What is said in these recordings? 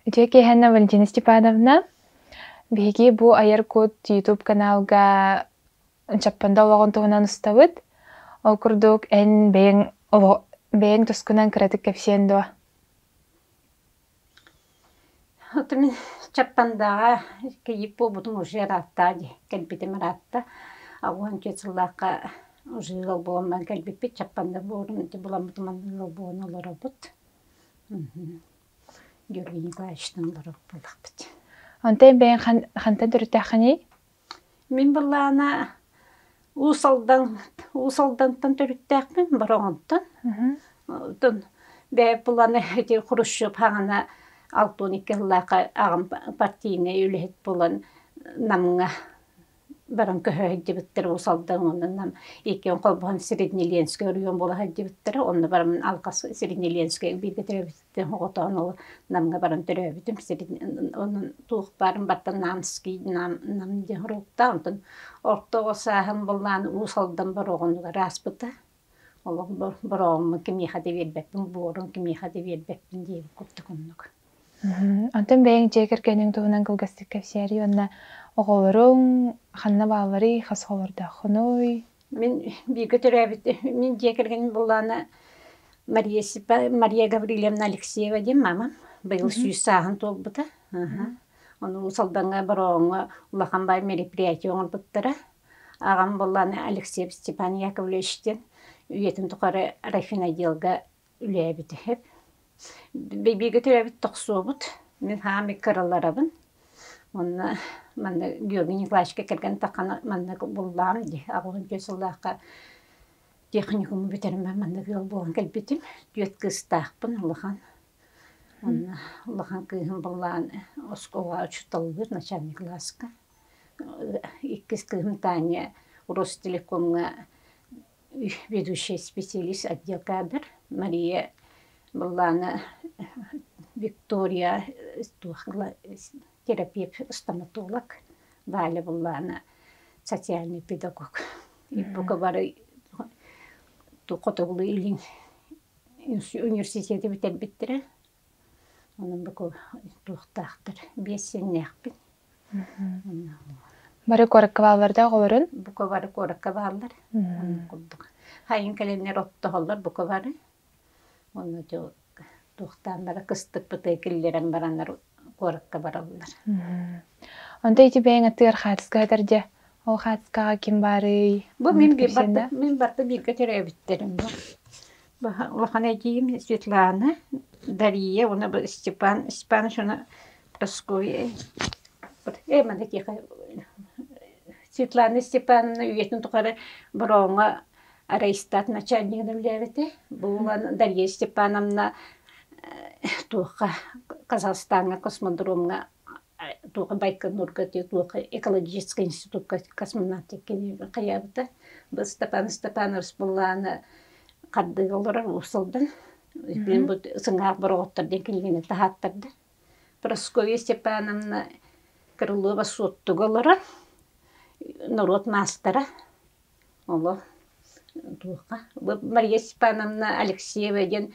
Үтүө киэһэнэ Валентина Степановна. Биһиги бу Айар кут YouTube каналга Чаппанда олоҕун туһунан устабыт. Ол курдук эн бэйэҥ оло- бэйэҥ тускунан кыратык кэпсиэн дуо? Оту мин Чаппандааҕа кийиит буолбутум уже ыраатта дии, кэлбитим ыраатта. Уонча сыллаахха уже ыал буолан кэлбиппит, Чаппанда буолан ити буламмытым анна ыал буолан олоробут. Георгий Николаевичтан олорор буоллахпыт. Онтон бэйэҥ ханта төрүттээххиний? Мин былаана Уус Алдан, Уус Алдантан төрүттээхпин, Бороҕонтон. Оттон бэйэм буланы ити Хрущев хаана алта уон икки сыллаахха аҕам партийнай үлэһит буолан Намҥа баран көһө сылдьыбыттара Уус Алдан уонна Нам иккиэн холбоһон Среднеленскэй оройуон буола сылдьыбыттара. Онно баран алҕас Среднеленскэйгэ бииргэ төрөөбүт оҕотоон ол намга баран төрөөбүтүм сирин онон туох баарын баттан Нанский Нам Нам диэн уруукта онтон орто оҕо сааһым буллаан Уус Алдан Бороҕонугар ааспыта олох Бороҕоҥҥо кимиэхэ да биэрбэппин Буорун кимиэхэ да биэрбэппин диэбит курдук оннук Онтон бэйэҥ дьиэ кэргэниҥ туһунан кылгастык кэпсээри уонна оҕолоруҥ ханна баалларый, хас оҕолордооххунуй? Мин бииргэ төрөөбүт мин дьиэ кэргэним булаана Мария Степа Мария Гаврильевна Алексеева диэн маамам быйыл сүүс сааһын туолбута аха ону Салдаҥҥа Борооҥҥо улахан баай мероприятие оҥорбуттара аҕам булаана Алексеев Степан Яковлевич диэн үйэтин тухары райфинотделга үлээбитэһэр. Бииргэ төрөөбүт тохсуобут. Мин хаамый кыраларабын. Онно манна Георгий Николаевичка кэргэн таххана манна буллаам ди. Аҕалын түөрт сыллаахха техникуму бүтэрмэ манна ыал буолан кэлбитим. Түөрт кыыстаахпын улахан. Онно улахан кыыһым буллаан оскуолаҕа учууталлыыр начальник класска. Иккис кыыһым Таня Ростелекомҥа ведущай специалист отдел кадр Мария быллаана Виктория терапевт стоматолог Валя быллаана социальный педагог иппука бары хотугулуу илин университеты бүтэрбиттэрэ Онон туохтаахтар биэрсиннээхпин. Бары куоракка баалларда оҕолорун? Бука бары куоракка бааллар. Курдук. Хайын кэлэннэр оттоһоллор бука бары. Онно туохтаан бара кыстыкпытыы киллэрэн бараннар куоракка бараллар. Онто ити бэйэҥ атыгар хаатыска хатар дьэ, ол хаатыскаҕа ким баарый? Бу мин барты мин барты бииргэ төрөөбүттэрим бу. Улахан эдьиийим Светлана, Дария уонна бу Степан Степанович уонна Прасковья. Эманы киэхэ Светлана Степановна үйэтин тухары Борооҥҥо рейстат начальнигынан үлэлээбитэ. Буолан Дария Степановна туохха Казахстаҥҥа космодромҥа туохха Байконурга туохха экологическай институкка космонавтиккин хайаабыта. Бу Степан Степанович буоллаана Хардыыга олорор уусалдан мин-бу сыҥаах бороҕоттор диэн кинигэни таһааттарда. Прасковья Степановна Крылова Суоттуга олорон, норуот маастара, оло туоха Мария Степановна Алексеева диэн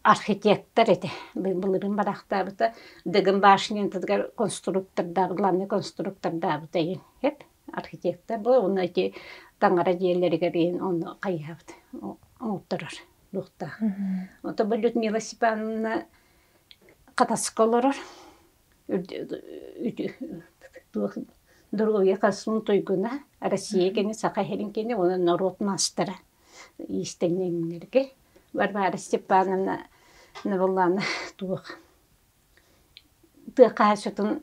архитектор этэ. Былырын бараахтаабыта Дыгын башнятыгар конструктордаабыт, главный конструктордаабыта эбит. архитектор бу уонна ити таҥара дьиэлэригэр иһин онно хайыһабыт оҥотторор луохтаах. Ото бу Людмила Степановна хатаска олорор туох доруобуйа хасмын туйгуна Россия кини саха иһин кини уонна норуот маастара иистэнньэҥнэргэ Варвара Степановна Навуллана туох тыа хаачытын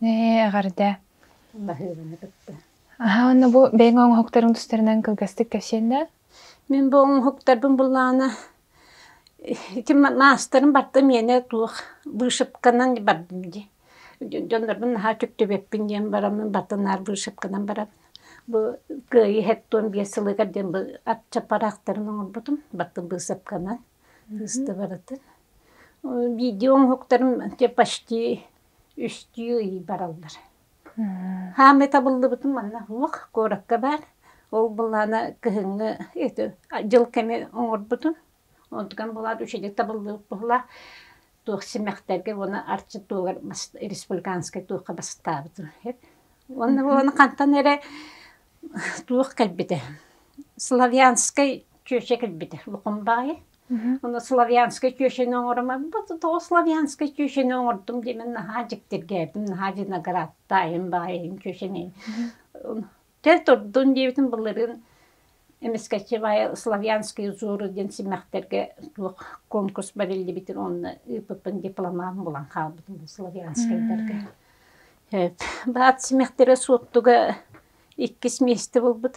Ээ, эҕэрдэ. Баһыыбаны кытта. Аһа уонна бу бэйэҥ оҥоһуктарыҥ тустарынан кылгастык кэпсиэннэ. Мин бу оҥоһуктарбын буллаана ити маастарым барда миэнэ туох вышивканан бардым дии. Дьоннорбун наһаа түптүбэппин диэн бараммын бата наар вышивканан барабын. Бу кыайыы хэттуон биэс сылыгар диэн бу ачча параахтарын оҥорбутум бата быысапканан. Быыста барытын. Видео оҥоһуктарым почти үстүү ый бараллар. Хаамыы табыллыбытым манна суох куоракка баар. Ол былаана кыһыҥҥы эти дьыл кэми оҥорбутум. Онтукан былаан үчүгэй табыллыбыт буоллаах. Туох симэхтэргэ уонна арчы туогар республиканскай туохха бастаабытым. Уонна уону хантан эрэ туох кэлбитэ. Славянскай чүөчэ кэлбитэ. Лукумбаайы. славянскай түөшэни оҥороммут тоҕо славянскай түөшэни оҥордум диэмин наһаа дьиктиргээбитим наһаа виноградтаайым баайым түөшэни тэр турдун диэбитин былырын эмискэчевая славянские узоры диэн симмэхтэргэ туох конкурс бэриллибитин онно ыыппыппын дипломам булан хаалбытым славянскайдарга баат симэхтэрэ суоттуга иккис миэстэ булбут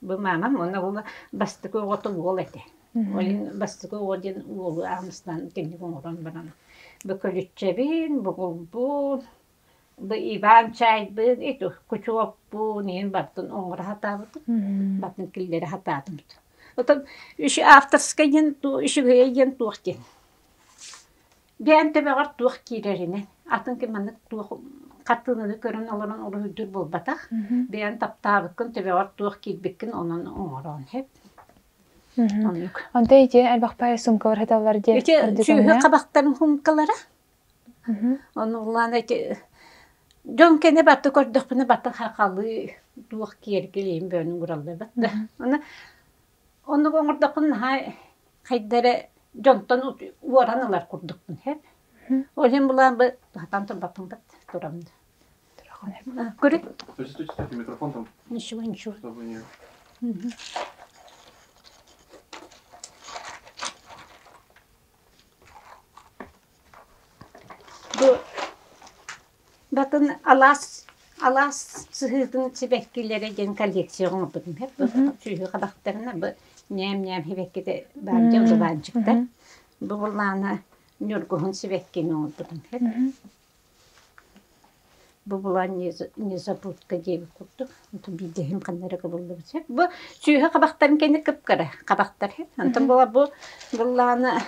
Бу маамам уонна уола бастакы оҕотум уол этэ. Ол иһин бастакы оҕо диэн уолу аамыстаан итинник оҥорон баран бу көлүччэбин, бугулбун, бу Иван чаайбын, ити кучуоппун, иһин бартын оҥоро сатаабытым, бартын киллэрэ сатаатымыт. Отон үш авторскай диэн үш үһүйэ диэн туох диэн? Гээн төбөҕөр туох киирэринэн, атын ким маннык туох хартыынаны көрөн олорон олуһуйдуур буолбатах. Бэйэн таптаабыккын, төбөҕөр туох киирбиккин онон оҥороон хэп. Оннук. Онто ити элбэх пай сумкалар хаталлар диэн Ити сүөһү хабахтарын сумкалара. Ону улаана ити дьон кэне батта көрдөхпүнэ баттан хахалыы туох киэркилиин бөөнүн ураллар батта. Аны Оннук оҥордоххун наһаа хайда эрэ дьонтон уоран ылар курдукпун иһэ. Ол иһин былаан бу сатаан турбаппын да турам да. Көрү. Ничего, ничего. Бу Датын алаас алаас сыһыытын сибэккилэрэ диэн коллекция оҥорбутум. Сүөһү хабахтарына бу ньээм-ньээм сибэккитэ баар дьэ удубаанчыктар. Бу былаана Ньургуһун сибэккини оҥорбутум. Бу былаан незабудка диэбит курдук. Онтон биирдэһим ханна эрэ кыбыллыбыт. Бу сүөһү хабахтарын кэннэ кыпкара хабахтар. Онтон була бу былаана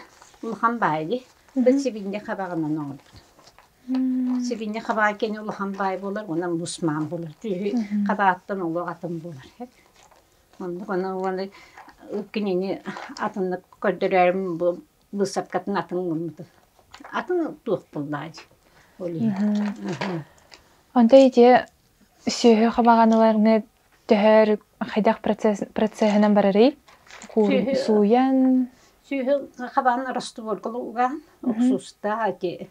улахан баайы. Бу сибинньэ хабаҕынан оҥорбутум. Сибиньэ хабаай кини улахан баай буолар, онон бусмаан булар. Киһи хабааттан олох атын буолар. Оннук аны уону кинини атыннык көрдөрөөрүм бу быысапкатын атын гыммытын. Атын туох буллаай? Ол иһин. Онто ити сүөһү хабаҕаныларны төһөр хайдах процеһынан барарый? Сууйан? Сүөһү хабаҕын растворкалы угаан, уксуустаа ити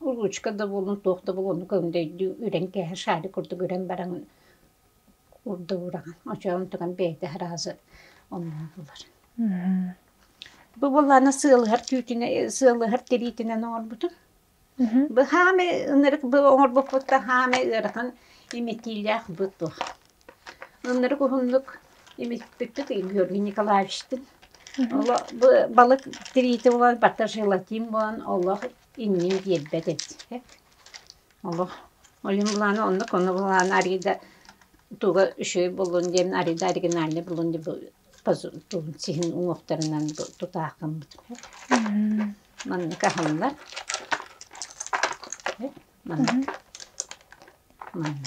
ручка да буоллун туох да буоллун оннук өндөйдүү үрэн кээһэ шарик курдук үрэн баран урдугураҕын очоон тутан бэйэтэ араазы омнуулар бу буоллаана сыалыһар түүтүнэ сыалыһар тириитинэн оҥорбутум бу хааме ынырык бу оҥорбуппутта хааме ыарахан имитиилээх бу туох ынырык уһуннук имитпиппит Георгий Николаевичтин оло бу балык тириити булан барта желатин буолан олох иннин биэрбэт этиһэт. Олох ойун былаана онно коно былаана арида туга үшөй булун диэн арида оригинальный булун диэн тубун сиһин уҥуохтарынан тутаахаммыт маннык аһыллар маннык маннык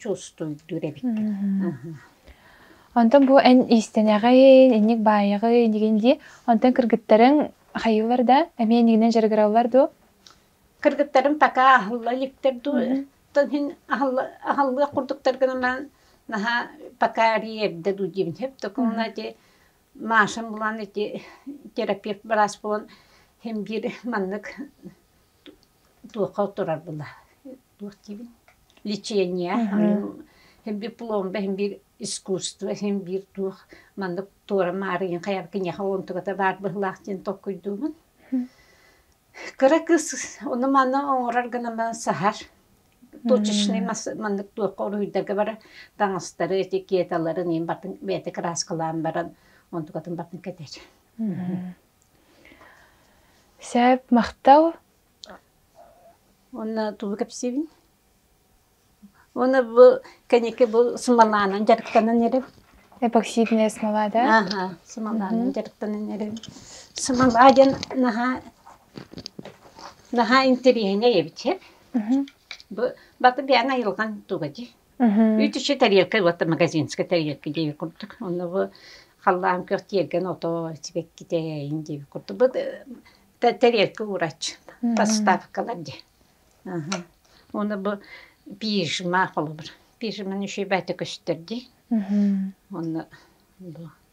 чувствуйдуур эбиккин Онтон бу эн иистэнэҕин, инник баайаҕын, инигин дии. Онтон кыргыттарың хайыылар да, эмиэ инигинэн дьарыгыраллар дуо? Кыргыттарым така аһылла иликтэр дуу, оттон иһин аһыллыах курдуктар гынан наһаа пока эрдэ дуу диэбин. Хөп такуна ити Машам булан ити терапевт быраас булан хим биир маннык туохха турарбына туох диибин лечение дипломба иһин биир искусство иһин биир туох маннык туорам маарыйын хайа киниэхэ онтугата баар быһылаах диэн толкуйдуумун кыра кыыс ону маны оҥорор гынан саһар точечный маннык туохха уруһуйдарга бара таҥастары этикеталарын иин батын бэйэтэ краскалаан баран онтукатын батын кэтэр Сээп махтал уонна тугу кэпсиибин уонна бу кэнники бу сымалаанан дьарыктанан эрим эпоксидное смолада аха сымалаанан дьарыктанан эрим сымалаа диэн наһаа наһаа интэриэһинэй эбит бу баты бэйэҥ айылҕаҥ туга дии Үс үчү тарелка уота магазинская тарелка диэбит курдук. Онно бу халлаан көх тиэргэн ото сибэкките эйин диэбит курдук. Бу тарелка уурач поставкалар ди. Оны бу пижма холобур. Пижманы шибәте көстөрди. Онно бу